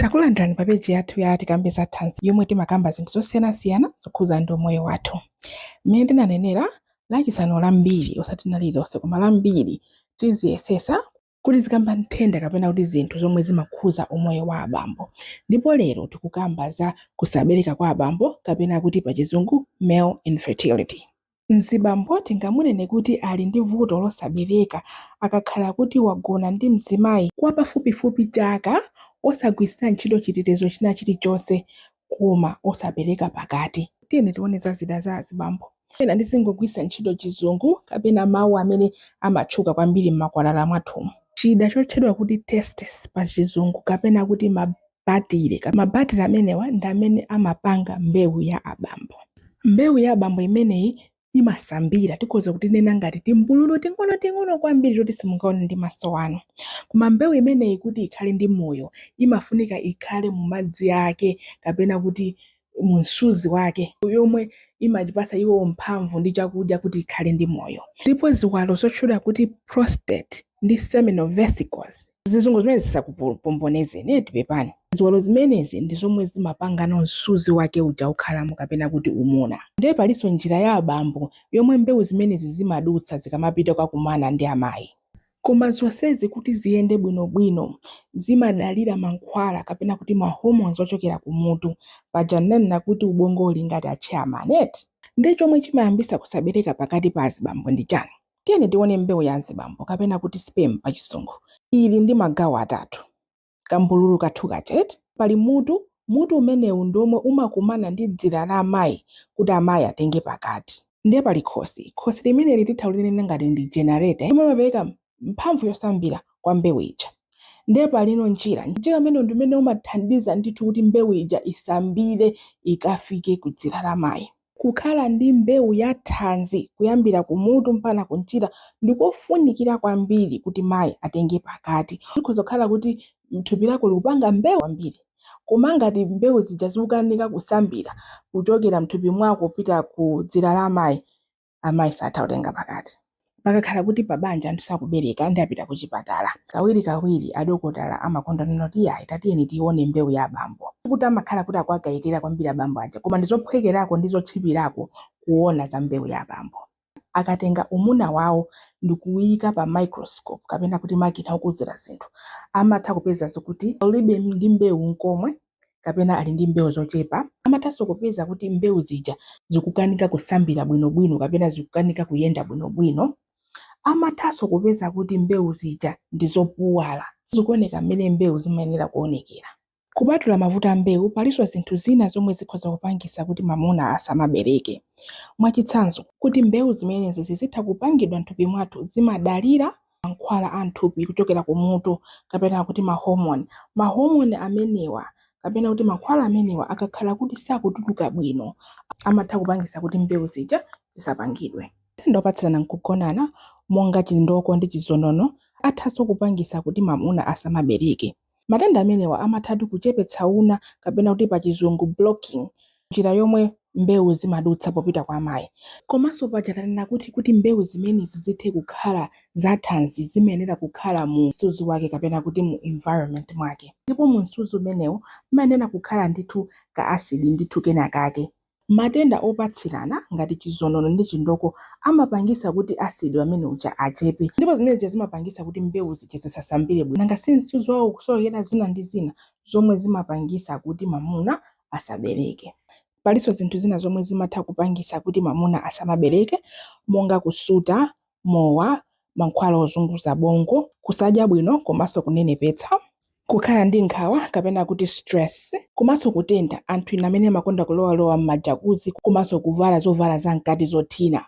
Takulandirani pa peji yathu ya Tikambe za Thanzi yomwe timakamba zinthu zosiyanasiyana zokhuza ndi umoyo wathu. Mmene tinanenera lachisanu lambiri osati lina lililonse koma lambiri tiziyesesa kuti zikamba nthenda kapena kuti zinthu zomwe zimakhuza umoyo wa abambo ndipo lero tikukamba za kusabereka kwa abambo kapena kuti pachizungu male infertility. Mzibambo tingamunene kuti ali ndi vuto losabereka akakhala kuti wagona ndi mzimayi kwa pafupifupi chaka osagwiritsira ntchito chitetezo china chilichonse koma osapereka pakati. Tiyeni tione za zida za azibambo. Pena ndizingogwiritsa ntchito chizungu kapena mawu amene amatchuka kwambiri mmakwalala mwathumu. Chida chotchedwa kuti testes pa chizungu kapena kuti ma. batire. Mabatire amenewa ndi amene amapanga mbewu ya abambo. Mbewu ya abambo imeneyi imasambira, tikhoza kuti nena ngati timbululu ting'onoting'ono kwambiri toti simungaone ndi maso anu. Koma mbewu imeneyi kuti ikhale ndi moyo imafunika ikhale mu madzi ake kapena kuti mu msuzi wake yomwe imayipasa iwo mphamvu ndi chakudya kuti ikhale ndi moyo ndipo ziwalo zotchedwa kuti prostate ndi seminal vesicles zizungu zimenezi zisakupombonezeni eti pepani ziwalo zimenezi ndi zomwe zimapangano msuzi wake uja ukhalamo kapena kuti umuna ndiye palinso njira ya abambo yomwe mbewu zimenezi zimadutsa zikamapita kukakumana ndi amayi Koma zonsezi kuti ziyende bwinobwino zimadalira mankhwala kapena kuti ma hormones ochokera kumutu. Paja ndinanena kuti ubongo uli ngati a chairman eti? Nde chomwe chimayambisa kusabereka pakati pa azibambo ndi chani? Tiyeni tione mbewu ya azibambo kapena kuti sperm pachizungu. Ili ndi magawo atatu. kambululu kathu kaja eti, pali mutu, mutu umenewu ndi womwe umakumana ndi dzira la amayi kuti amayi atenge pakati. Ndiye pali khosi, khosi limeneli titha kulinena ngati ndi generator yomwe imapereka mphamvu yosambira kwa mbewu ija. Ndiye palino mchira, mchira umenewu ndi umene umathandiza ndithu kuti mbewu ija isambire ikafike kudzira la mayi. Kukhala ndi mbewu ya thanzi kuyambira kumutu mpaka kumchira ndikofunikira kwambiri kuti mai atenge pakati. Zikhoza kukhala kuti thupi lako likupanga mbewu zambiri koma ngati mbewu zija zikukanika kusambira kuchokera mthupi mwako kupita ku dzira la mai, amayi satha kutenga pakati. Pakakhala kuti pabanja anthu sakubereka nde apita kuchipatala, kawirikawiri adokotala amakonda kunena kuti iyayi tatiyeni tione mbewu ya abambo. Sikuti amakhala kuti akuwakayikira kwambiri abambo aja koma ndi zophwekerako ndi zotchipirako kuona za mbewu ya abambo. Akatenga umuna wawo ndi kuuyika pa microscope kapena kuti makina okuzira zinthu, amatha kupeza zokuti ulibe ndi mbewu n'komwe. kapena ali ndi mbewu zochepa, amathanso kupeza kuti mbewu zija zikukanika kusambira bwinobwino kapena zikukanika kuyenda bwinobwino. Amathanso kupeza kuti mbewu zija ndi zopuwala, sizikuoneka mmene mbewu zimayenera kuonekera. Kupatula mavuto a mbewu, palinso zinthu zina zomwe zikhoza kupangitsa kuti mwamuna asamabereke. Mwachitsanzo, kuti mbewu zimenezi zizitha kupangidwa m'thupi mwathu zimadalira mankhwala a m'thupi kuchokera kumutu kapena kuti ma hormone. Ma hormone amenewa kapena kuti mankhwala amenewa akakhala kuti sakutuluka bwino amatha kupangitsa kuti mbewu zija zisapangidwe. Matenda opatsirana m'kugonana monga chindoko ndi chizonono athanso kupangitsa kuti mwamuna asamabereke. Matenda amenewa amathatu kuchepetsa una kapena kuti pachizungu blocking njira yomwe mbewu zimadutsa popita kwa amayi. Komanso paja tanena kuti kuti mbewu zimenezi zithe kukhala za thanzi zimayenera kukhala mu msuzi wake kapena kuti mu environment mwake ndipo mu msuzi umenewu mumayenera kukhala ndithu ka acid ndithu kenakake. Matenda opatsirana ngati chizonono ndi chindoko amapangisa kuti acid amene uja achepe ndipo zimene zija zimapangisa kuti mbewu zija zisasambire bwino nanga si msuzi wawo ukusowekera zina ndi zina zomwe zimapangisa kuti mamuna asabereke. Palinso zinthu zina zomwe zimatha kupangisa kuti mamuna asamabereke monga kusuta mowa, mankhwala ozunguza bongo, kusadya bwino komanso kunenepetsa, kukhala ndi nkhawa kapena kuti stress, komanso kutentha, anthu ena amene amakonda kulowalowa mma jacuzzi komanso kuvala zovala za mkati zothina,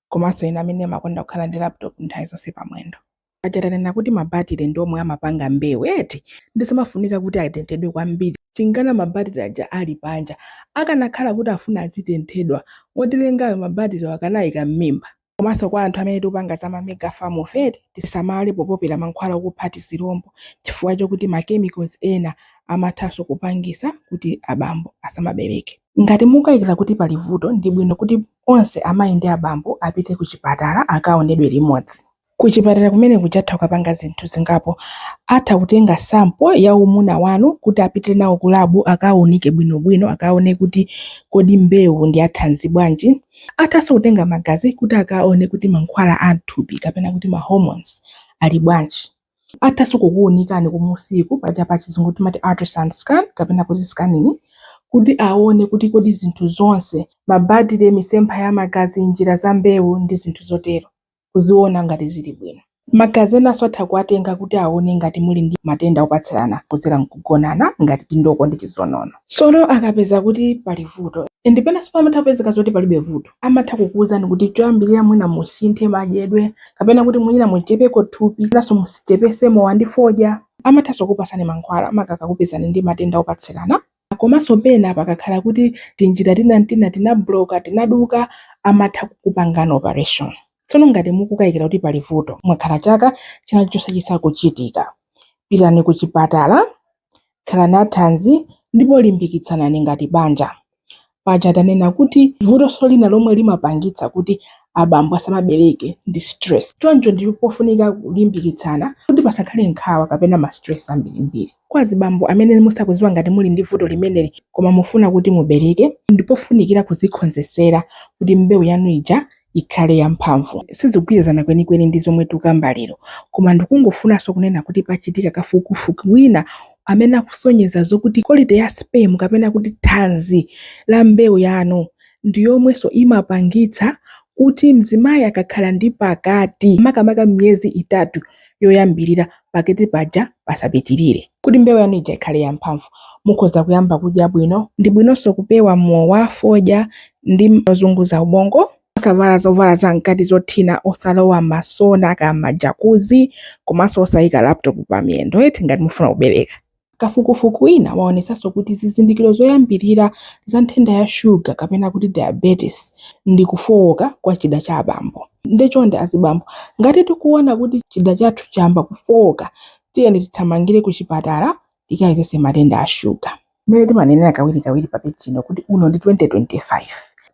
komanso ena amene amakonda kukhala ndi laptop nthawi zonse pamwendo. Paja tanena kuti ma battery ndi omwe amapanga mbewu eti, nde sizimafunika kuti atenthedwe kwambiri, chinkana ma battery aja ali panja, akanakhala kuti afuna azitenthedwa, wotilengayo ma battery akanaika mmimba? komanso kwa anthu amene tikupanga za ma mega farm fe tisamale popopera mankhwala okupha tizilombo chifukwa chokuti ma chemicals ena amathanso kupangisa kuti abambo asamabereke. Ngati mukukayikira kuti pali vuto ndi bwino kuti onse amayi ndi abambo apite kuchipatala akaonedwe limodzi. Kuchipatala kumene kuja atha kukapanga zinthu zingapo, atha kutenga sample ya umuna wanu kuti apite nawo ku lab akaunike bwinobwino akaone kuti kodi mbewu ndi ya thanzi bwanji, Athanso kutenga magazi kuti akaone kuti mankhwala a m'thupi kapena kuti ma hormones ali bwanji. Athanso kukuunikani kumusiko paja pachizungu timati ultrasound scan kapena kuti scanning kuti aone kuti kodi zinthu zonse, mabatire, misempha ya magazi, njira za mbewu ndi zinthu zotero. kuziona ngati zili bwino. Magazi enanso atha kuwatenga kuti aone ngati muli ndi matenda opatsirana kudzera m'kugonana ngati chindoko ndi chizonono. Tsono akapeza kuti pali vuto, and penanso pamatha kupezeka zoti palibe vuto, amatha kukuuzani kuti choyambirira mwina musinthe madyedwe kapena kuti mwina muchepeko thupi penanso muchepetse mowa ndi fodya. Amathanso kukupatsani mankhwala maka akakupezani ndi matenda opatsirana. komanso pena pakakhala kuti tinjira tina n'tina tinabloka, tinaduka, amatha kukupangani operation. Tsono ngati mukukayikira kuti pali vuto, mwakhala chaka china chilichonse chisakuchitika, pitani kuchipatala, khalani athanzi ndipo limbikitsanani ngati banja. Paja tanena kuti vutoso lina lomwe limapangitsa kuti abambo asamabereke ndi stress. Choncho ndi pofunika kulimbikitsana kuti pasakhale nkhawa kapena ma stress ambirimbiri. Kwa azibambo amene musakuziwa ngati muli ndi vuto limeneli koma mufuna kuti mubereke, ndipofunikira kuzikhonzesera kuti mbeu yanu ija ikhale yamphamvu. Sizikugwirizana kwenikweni ndi zomwe tikukamba lero, koma ndikungofunanso kunena kuti pachitika kafukufuku wina amene akusonyeza zokuti quality ya sperm kapena kuti thanzi la mbewu yanu ndi yomwenso imapangitsa kuti mzimayi akakhala ndi pakati makamaka miyezi itatu, yoyambirira pakati paja pasapitirire. Kuti mbewu yanu ija ikhale yamphamvu, mukhoza kuyamba kudya bwino. Ndi bwinonso kupewa mowa, fodya, ndi zozunguza ubongo. Osavala zovala zamkati zothina, osalowa m'masona kaya m'majakuzi, komanso osaika laputopu pamiyendo eti ngati mukufuna kubereka. Kafukufuku wina waonetsanso kuti zizindikiro zoyambirira za nthenda ya shuga kapena kuti diabetes ndi kufooka kwa chida cha abambo. Nde chonde azibambo, ngati tikuona kuti chida chathu chayamba kufooka, tiyeni tithamangire kuchipatala tikayezetse matenda a shuga. Mmene timanenera kawirikawiri papeji ino kuti uno ndi 2025,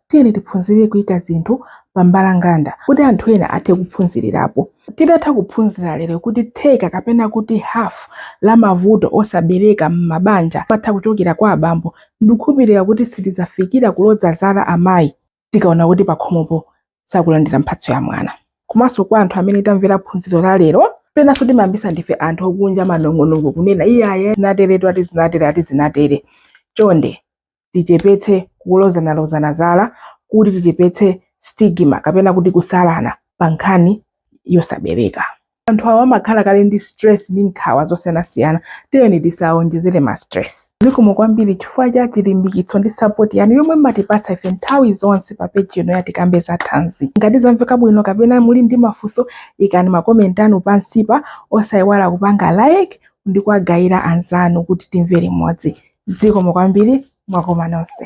Tiyeni tiphunzire kuika zinthu pa mbalanganda kuti anthu ena athe kuphunzirirapo. Titatha kuphunzira lero kuti theka kapena kuti half la mavuto osabereka mmabanja amatha kuchokera kwa abambo, ndikukhulupirira kuti sitidzafikira kuloza zala amayi tikaona kuti pakhomopo sakulandira mphatso ya mwana. Komanso kwa anthu amene tamvera phunziro la lero, penanso timayambisa ndife anthu okunja manong'onong'o kunena iyayi zinateretu ati zinatere ati zinatere. Chonde. tichepetse kulozanalozana zala kuti tichepetse stigma kapena kuti kusalana pa nkhani yosabereka anthu awo amakhala kale ndi stress ndi nkhawa zosiyanasiyana tiyeni tisawonjezere ma stress zikomo kwambiri chifukwa cha chilimbikitso ndi sapoti yanu yomwe mmatipatsa ife nthawi zonse pa peji ino ya tikambe za thanzi ngati zamveka bwino kapena muli ndi mafunso ikani makomenti anu pansipa osayiwala kupanga like ndi kuwagayira anzanu kuti timvere limodzi. Zikomo kwambiri, mwakoma nonse.